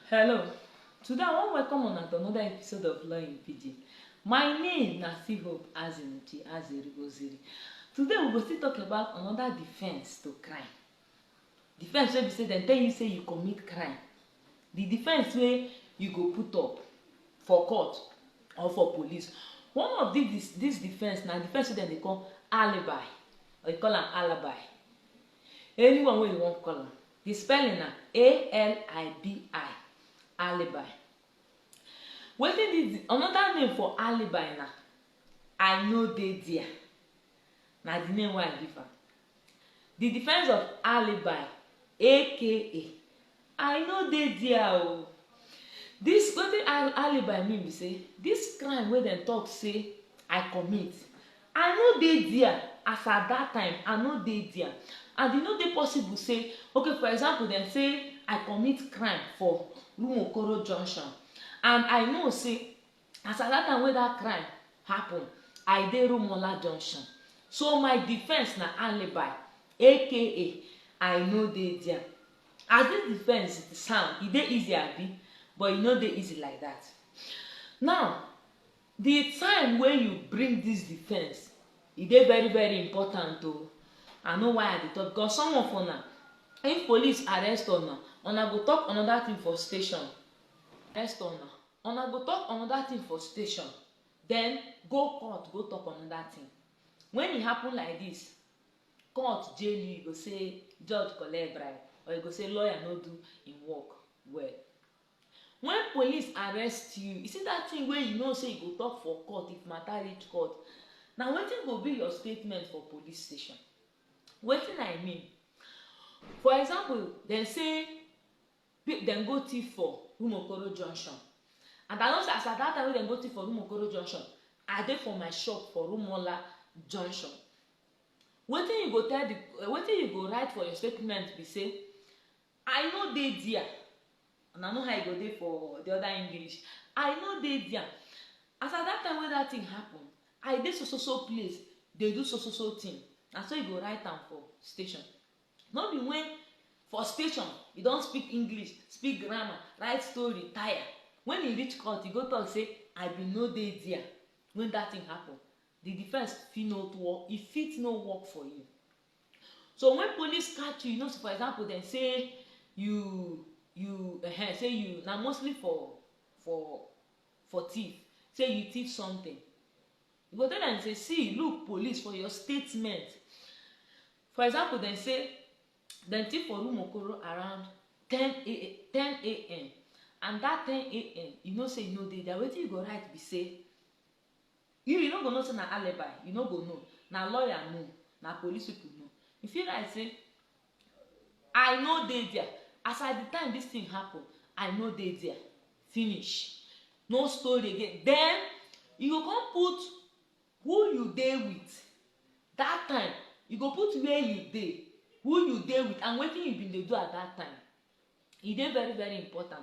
Hello, today I wan welcome una to another episode of Law in Pidgin. My name na still Hope Azimuchi Azeri Oziri. Today we go still talk about another defense to crime. Defense wey be say dem tell you say you commit crime. The defense wey you go put up for court or for police. One of this this defense na defense wey dem dey call alibi or you call am alibi. Anyone wey you wan call am. Di spelling na A-L-I-B-I, Alibi. Wetin be di another name for Alibi na I no dey dia. Na di name wey I give am. Di defence of Alibi aka I no dey dia o. Dis wetin alibi mean be say dis crime wey dem talk say I commit I no dey dia as at dat time I no dey dia and e no dey possible say okay for example dem say I commit crime for Rumuokoro junction and I know say As at that time wey that crime happen, I dey Rumuola Junction, so my defence na alibi aka I no dey there. As this defence sound, e dey easy abi? But e no dey easy like that. Now, the time wey you bring this defence, e dey very very important o. I know why I dey talk because some of una, if police arrest una, una go talk another thing for station. Arrest una. Una go talk another thing for station, then go court go talk another thing. When e happen like this, court jail you, you go say judge collect bribe or you go say lawyer no do im work well. When police arrest you, you see that thing wey you know say you go talk for court if matter reach court, na wetin go be your statement for police station. Wetin I mean, for example, dem say Pe dem go thief for Rumuokoro junction and I know say as at dat time wey dem go thief for Rumuokoro junction, I dey for my shop for Rumuola junction. Wetin you go tell di wetin you go write for your statement be say, I no dey dia, una know how e go dey for di oda English, I no dey dia, as at dat time wey dat tin happun, I dey so so so place dey do so so so tin, na so you go write am for station. No be wen for station e don speak English, speak grammar, write story tire, wen e reach court e go tok say I bin no dey dia wen dat tin happun, di defence fit no work, e fit no work for you. So wen police catch you, you know say for example dem say you you ehen say you na mostly for for for tiff, say you tiff sometin, you go tell dem say see look police for your statement, For example, dem say dem thief for room Okoro around 10 a.m. and that 10 a.m. you know say you no dey there wetin you go write be say you you no go know say na alibi you no go know na lawyer know na police people know you fit write say i no dey there as at the time this thing happen i no dey there finish no story again then you go come put Who you dey with that time, you go put where you dey, who you dey with and wetin you been dey do at that time. E dey very very important.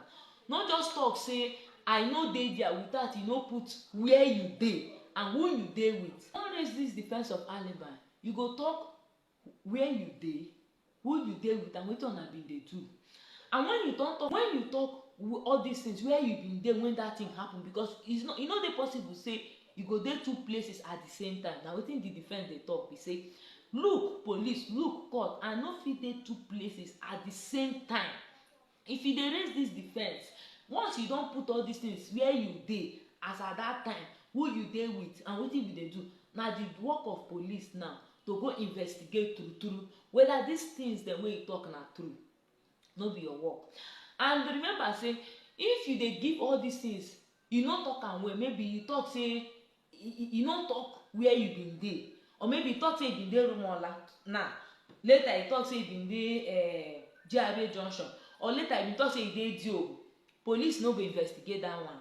No just talk say I no dey there without you no put where you dey and who you dey with. No raise this defense of alibi, you go talk where you dey, who you dey with and wetin una bin dey do and wen you don talk wen you talk all dis things where you bin dey wen dat thing happen because is e no dey possible sey you go dey two places at di same time na wetin di defence dey talk be sey look police look court I no fit dey two places at di same time If you dey raise dis defence, once you don put all dis tins wia you dey as at dat time, who you dey wit and wetin you bin dey do, na di work of police now to go investigate true true weda dis tins dem wey you tok na true, no be your work. And remember say if you dey give all dis tins, you no tok am well, maybe you tok say e no talk where you bin dey or maybe e talk say e bin dey rumola now later e talk say e bin dey eh, GRA junction or later e bin talk say e dey Diobu police no go investigate that one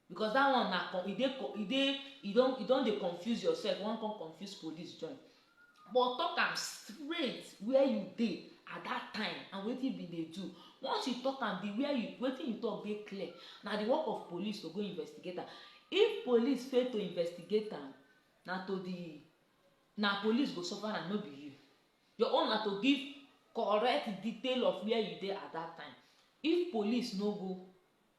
because that one na e dey e dey e don e don dey confuse yourself you wan come confuse police join but talk am straight where you dey at that time and wetin you bin dey do once you talk am the where you wetin you talk dey clear na the work of police to go investigate am if police fail to investigate am na to the na police go suffer am no be you your own na to give correct detail of where you dey at that time if police no go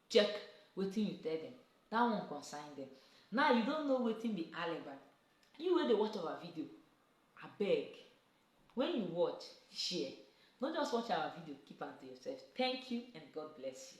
check wetin you tell them that one concern them now you don't know wetin be alibi You wey dey watch our video abeg when you watch share no just watch our video keep am to yourself thank you and God bless you.